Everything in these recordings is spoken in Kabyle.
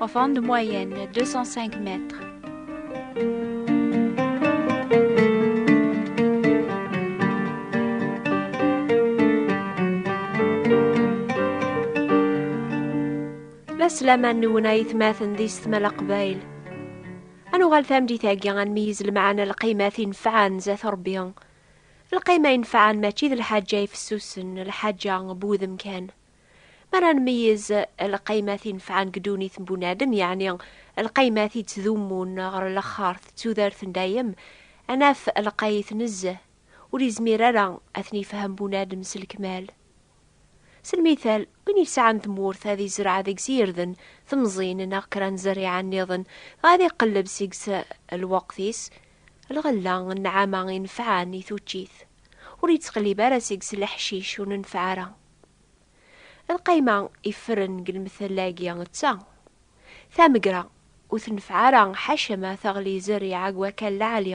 Enfant de moyenne, 205 mètres. La slama-nwen ay tmaten di setmala qbayl. Ad nuɣal tameddit-agi ad nmeyyez lemɛana lqimat inefɛen zat Rebbi. Lqima inefɛen mačči d lḥaǧa ifessusen, lḥaǧa n wudem kan. Mi ara nmeyyez lqaymat i nefɛen deg ddunit n bunadem, yeɛni lqaymat i ttdummun ɣer laxert d tudert n dayem, ad naf lqayet nezzeh, ur izmir ara ad ten-ifhem bunadem s lekmal. S lmital, win yesɛan tmurt ad izreɛ deg-s irden, temẓin neɣ kra n zzerriɛa nniḍen, dɣa ad iqelleb seg-s lweqt-is, lɣella, nnɛama inefɛen i tuččit, ur ittqellib ara seg-s leḥcic ur nenfeɛ ara. Lqayma iffren deg lmetla-agi d ta, Tamegra ur tenfeɛ ara ḥaca ma teɣli zerriɛa deg wakal lɛali.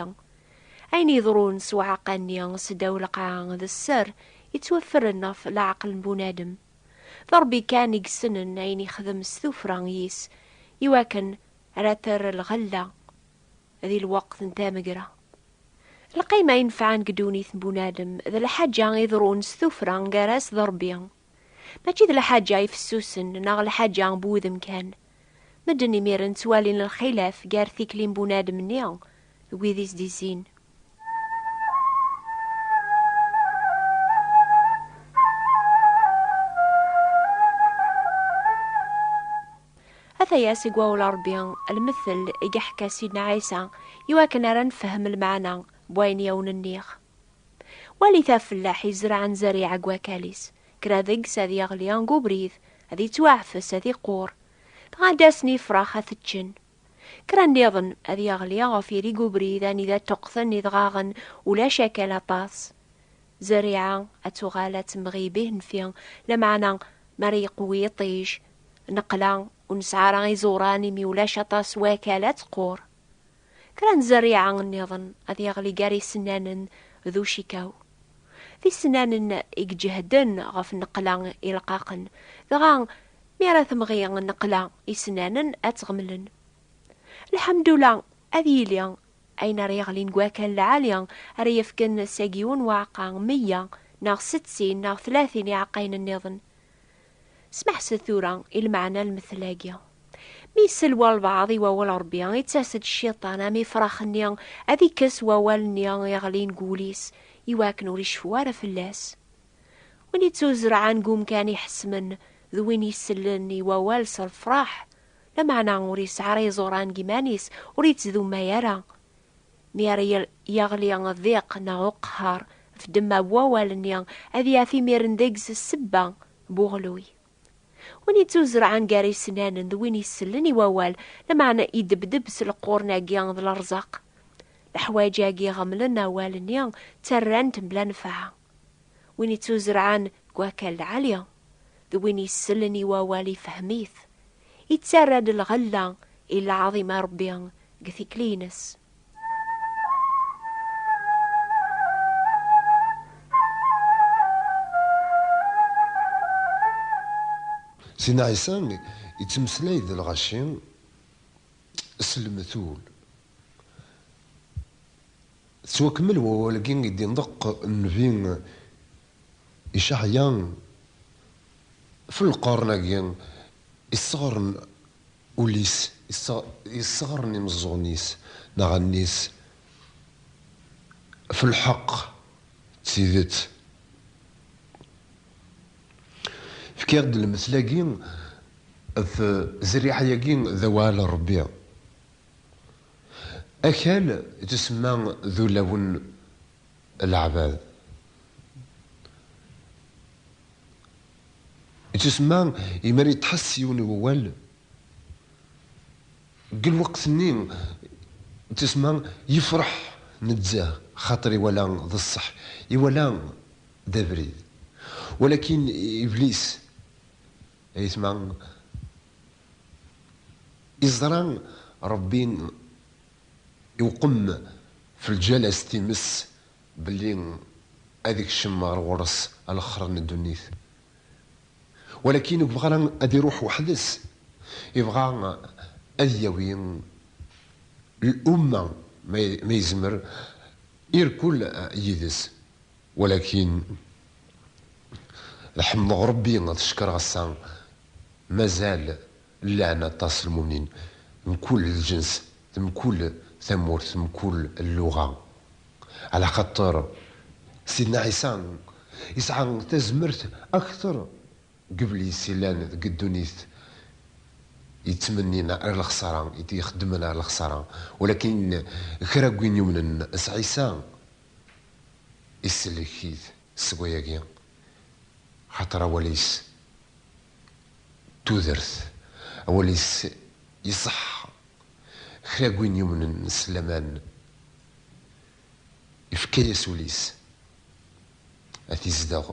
Ayen yeḍrun s uɛeqqa-nni seddaw lqaɛa d sser yettwaffren ɣef leɛqel n bunadem. D Ṛebbi kan i yessnen ayen yexdem s tuffra-is iwakken ara terr lɣella di lweqt n tamegra. Lqima inefɛen deg ddunit n bunadem d lḥaǧa iḍerrun s tuffra gar-as d Ṛebbi. Mačči d lḥaǧa ifessusen neɣ lḥaǧa n wudem kan. Medden imiren ttwalin lxilaf gar tikli n bunadem-nni d wid i s-d-izzin. Ataya-s i gwawel Rebbi, lmettel i geḥka Sidna Ɛisa, i wakken ara nefhem lmeɛna n wayen i awen-nniɣ. Walit afellaḥ izerɛen zerriɛa deg wakal-is, kra deg-s ad yeɣli deg ubrid, ad ittwaɛfes, ad iqur, dɣa ad d-asen yifrax ad t-ččen. Kra nniḍen ad yeɣli ɣef irig ubrid anida ṭṭuqten idɣaɣen ulac akal aṭas. Zerriɛa ad tuɣal ad temɣi bihennfi, lameɛna mi ara yeqwi yiṭij, neqla ur nesɛi ara iẓuran imi ulac aṭas wakal ad tqur. Kra n zerriɛa nniḍen ad yeɣli gar isennanen d ucikaw. D isennanen i iǧehden ɣef nneqla ileqqaqen, dɣa Mi ara temɣi nneqla isnanen ad tt-ɣemlen. Lḥemdula, ad yili, ayen ara yeɣlin deg wakal lɛali, ara yefken seg yiwen uɛeqqa, meyya, neɣ settin, neɣ tlatin iɛeqqayen nniḍen. Smeḥset tura i lmeɛna n lmettel-agi. Mi isel walbeɛḍ i wawal n Rebbi, ittas-d Cciṭan am ifrax-nni ad ikkes wawal-nni iɣlin deg wul-is, iwakken ur iceffu ara fell-as. Win ittuzerɛen deg umkan iḥesmen d win isellen i wawal s lefraḥ, lameɛna ur yesɛi ara iẓuran deg yiman-is, ur yettdummay ara. Mi ara yeɣli ddiq neɣ uqehhar, ɣef ddemma n wawal-nni, ad yaf imiren deg-s ssebba n uɣelluy. Win ittuzerɛen gar isennanen d win isellen i wawal, lameɛna idebdeb s leqquren-agi d lerzaq. Leḥwayeǧ-agi iɣemlen awal-nni, ttarran-t mebla nnfeɛ. Win ittuzerɛen deg wakal lɛali, d win yessellen i wawal ifhem-it, ittarra-d lɣella i lɛaḍima n Ṛebbi deg tikli-ines. Sina Ɛisa ittmeslay d lɣaci s lmetul. Tettwakemmel wawal-agi i d-inṭeq nnbi Icaɛya f lqern-agi yesseɣren ul-is, yesseɣren imeẓẓuɣen-is neɣ allen-is f lḥeqq d tidet. Fkiɣ-d lmesla-agi f zerriɛa-agi d awal n Rebbi. Akal d isemma d ulawen n leɛbad. D isemma i mi ara yettḥas yiwen i wawal, deg lweqt-nni d isemma yefreḥ nezzeh xaṭer iwala d ṣṣeḥ, iwala d abrid. Walakin iblis, ayetma, Iẓra Ṛebbi iwqem f lǧalas times belli ad ikcem ɣer ɣur-s alexxer n ddunit. Walakin ur ibɣa ara ad iruḥ weḥd-s, ibɣa ad yawi lumma ma yezmer irkul yid-s. Walakin ad ḥemdeɣ Rebbi, ad cekkreɣ ass-a, mazal llan aṭas lmumnin, mkul lǧens, mkul tamurt, mkul lluɣa. Ɛla xaṭer Sidna Ɛisa yesɛa tazmert akter n yiblis yellan deg ddunit yettmennin ar lexsara, ixeddmen ar lexsara. Walakin kra n win yumnen s Ɛisa, isellek-it seg wayagi, xaṭer awal-is d tudert, awal-is iṣeḥḥa. Kra n win yumnen s laman, ifka-yas ul-is ad t-izdeɣ,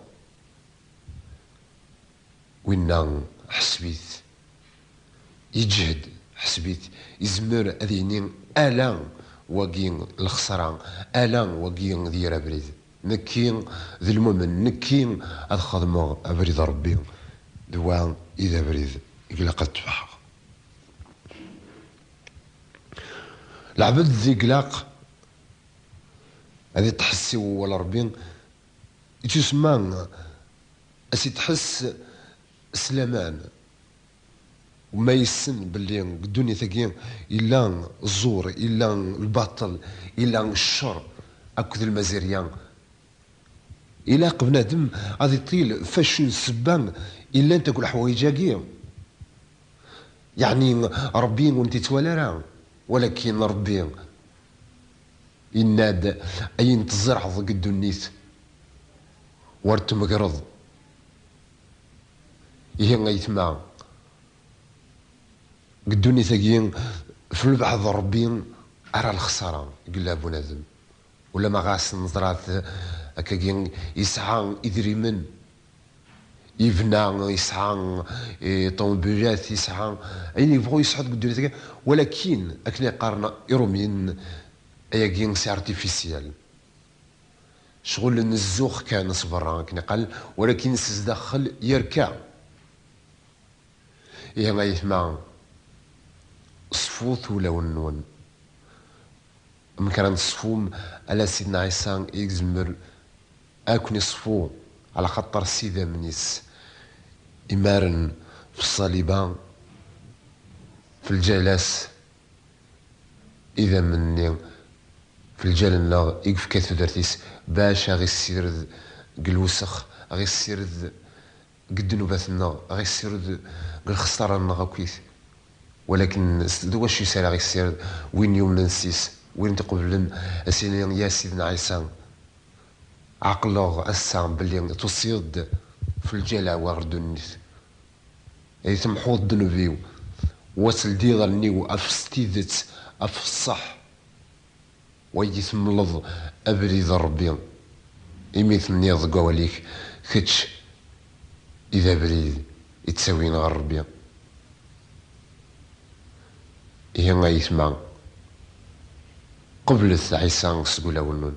winna ḥseb-it Yeǧhed, ḥesbit, izmer ad yini ala wagi lexṣra, ala wagi d yir abrid. Nekki d lmumen, nekki ad xedmeɣ abrid Rebbi, d wa i d abrid i glaq ad ttbaḥeɣ. Lɛebd d i glaq ad iṭḥess i wewwal Rebbi, ittusemma ad s-iṭḥess Sslaman, ma yessen belli deg ddunit-agi yella ẓẓur, yella lbaṭel, yella ccer akked lmazirya, ilaq bnadem ad iṭil f acu n ssebba i llant akk leḥwayeǧ-agi, yeɛni Ṛebbi ur ntittwali ara, walakin Ṛebbi yenna-d ayen tzerɛeḍ deg ddunit ur tmegreḍ. Ihi ayetma, deg ddunit-agi, f lbeɛd n Rebbi ara lexsara yella bunadem. Ulamma ɣas neẓra-t akkagi, yesɛa idrimen, yebna, yesɛa ṭṭuwbilat, yesɛa ayen yebɣu yesɛu deg ddunit-agi, walakin akken ay qqaren Iṛumyen, ayagi s artificiel. Cɣel n zzux kan s berra akken iqal, walakin s zdaxxel yerka. Ihi a yetma, ṣfut ulawen-nwen. Amek ara neṣfum ala Sidna Ɛisa i izemmer a ken-iṣfu, ɛlaxaṭer s idammen-is imaren f ṣṣalib-a, f lǧayla-s Idammen-nni f lǧal-nneɣ i yefka i tudert-is bac a ɣ-issired g lwesx, a ɣ-issired g ddnubat-nneɣ, a ɣ-issired g lxesṭara-nneɣ akkit. Walaken d wacu-s ara ɣ-issired? Win yumnen s-is, win t-iqeblen, a s-ini, Ya Sidna Ɛisa, ɛeqleɣ ass-a belli tusiḍ-d f lǧal-aw ɣer ddunit. Ay temḥuḍ ddneb-iw. Wa teldiḍ allen-iw af s tidet, af ṣṣeḥ. Wagi temleḍ abrid n Ṛebbi, imi tenniḍ deg wawal-ik, kečč i d abrid i ttawin ɣer Ṛebbi. Ihi ay ayetma, qeblet Ɛisa seg ulawen-nwen.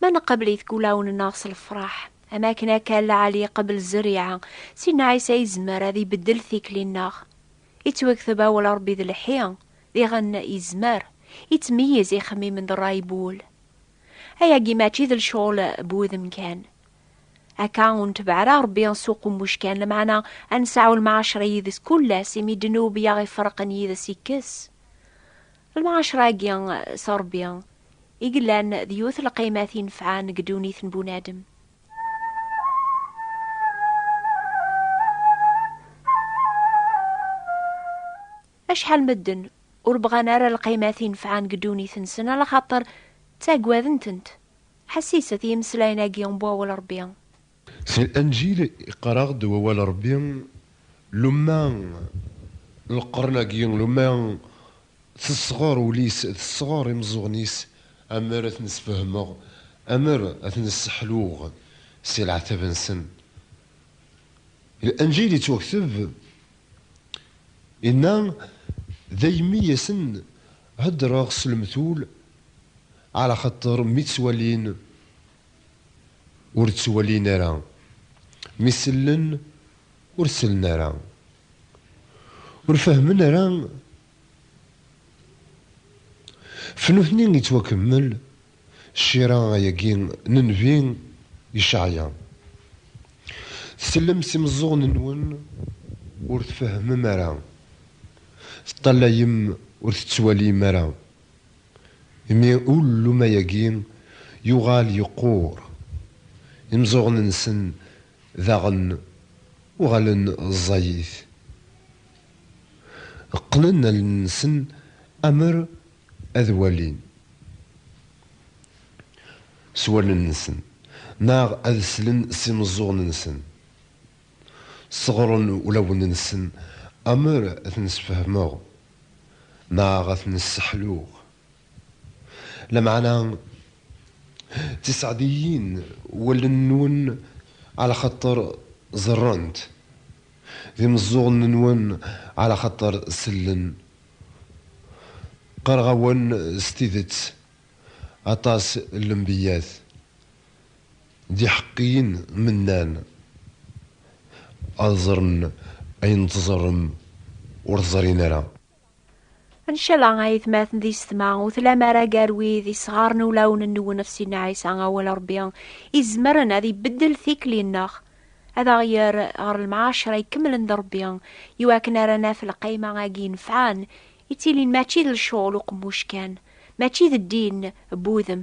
Ma neqbel i deg ulawen-nneɣ s lefraḥ, am akken akka lɛali iqbel zzeriɛa, Sidna Ɛisa yezmer ad ibeddel tikli-nneɣ. Ittwekteb awal Ṛebbi d lḥi, diɣen yezmer, ittmeyyiz ixemmimen d ṛṛay n wul. Ayagi mačči d lecɣel n wudem kan. Akka ur netbeɛ ara Ṛebbi s uqummuc kan, lameɛna ad nesɛu lmɛaceṛ yid-s kul ass, imi ddnub i aɣ-iferqen yid-s yekkes. Lmuɛacra-agi s Ṛebbi i yellan d yiwet n lqaymat inefɛen deg ddunit n bunadem. Acḥal n medden ur bɣan ara lqaymat inefɛen deg ddunit-nsen ala xaṭer ttaggaden-tent. Ḥessis at yimeslayen-agi n wawal n Ṛebbi. Si Llanǧil iqqar-aɣ-d wawal n Ṛebbi, Luma lqern-agi, luma tesɣer ul-is, tesɣer imeẓẓuɣen-is, amer ad ten-sfehmeɣ, amer ad ten-sseḥluɣ si leɛtab-nsen. Llanǧil ittwakteb, inna, Daymi i asen-heddreɣ s lemtul, ɛlaxaṭer mi ttwalin, ur ttwalin ara, mi sellen ur sellen ara, ur fehmen ara, f nutni yettwakemmel ccira ayagi n nnbi Yecɛya, tsellem s imeẓẓuɣen-nwen ur tfehmem ara, teṭṭalayem ur tettwalim ara. Imi ulluma-agi yuɣal yeqqur, imeẓẓuɣen-nsen daɣen uɣalen ẓẓayit. Qqnen allen-nsen amer ad walin s wallen-nsen neɣ ad slen s imeẓẓuɣen-nsen. Sseɣren ulawen-nsen amer ad ten-sfehmeɣ neɣ ad ten-sseḥluɣ. Lameɛna, d tiseɛdiyin wallen-nwen ɛlaxaṭer ẓerrent, d imeẓẓuɣen-nwen ɛlaxaṭer sellen. Qqareɣ-awen s tidet, aṭas n lembiyyat D iḥeqqiyen mi nnan, ad ẓren ayen tẓerrem ur t-ẓrin ara. Ncala a yetmaten d yessetma, ur tlam ara gar wid yesɣaren ulawen-nwen ɣef Sidna Ɛisa, Awal n Rebbi, izemren ad ibeddel tikli-nneɣ, ad aɣ-yerr ɣer lemɛaccra ikemlen d Rebbi, iwakken ara naf lqayma-agi inefɛen, ittilin mačči d lecɣel uqemmuc kan, mačči d ddin n wudem.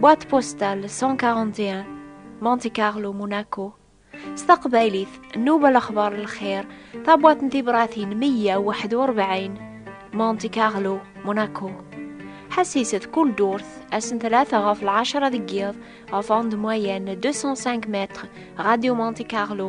Boîte postale 141 Monte Carlo Monaco s taqbaylit nnuba lexbar n lxir tabwat n tibratin 141 Monte Carlo Monaco ḥassiset kull durt assen tlata ɣef lɛecra deg yiḍ ɣef ande moyenne 205 mètres Radio Monte Carlo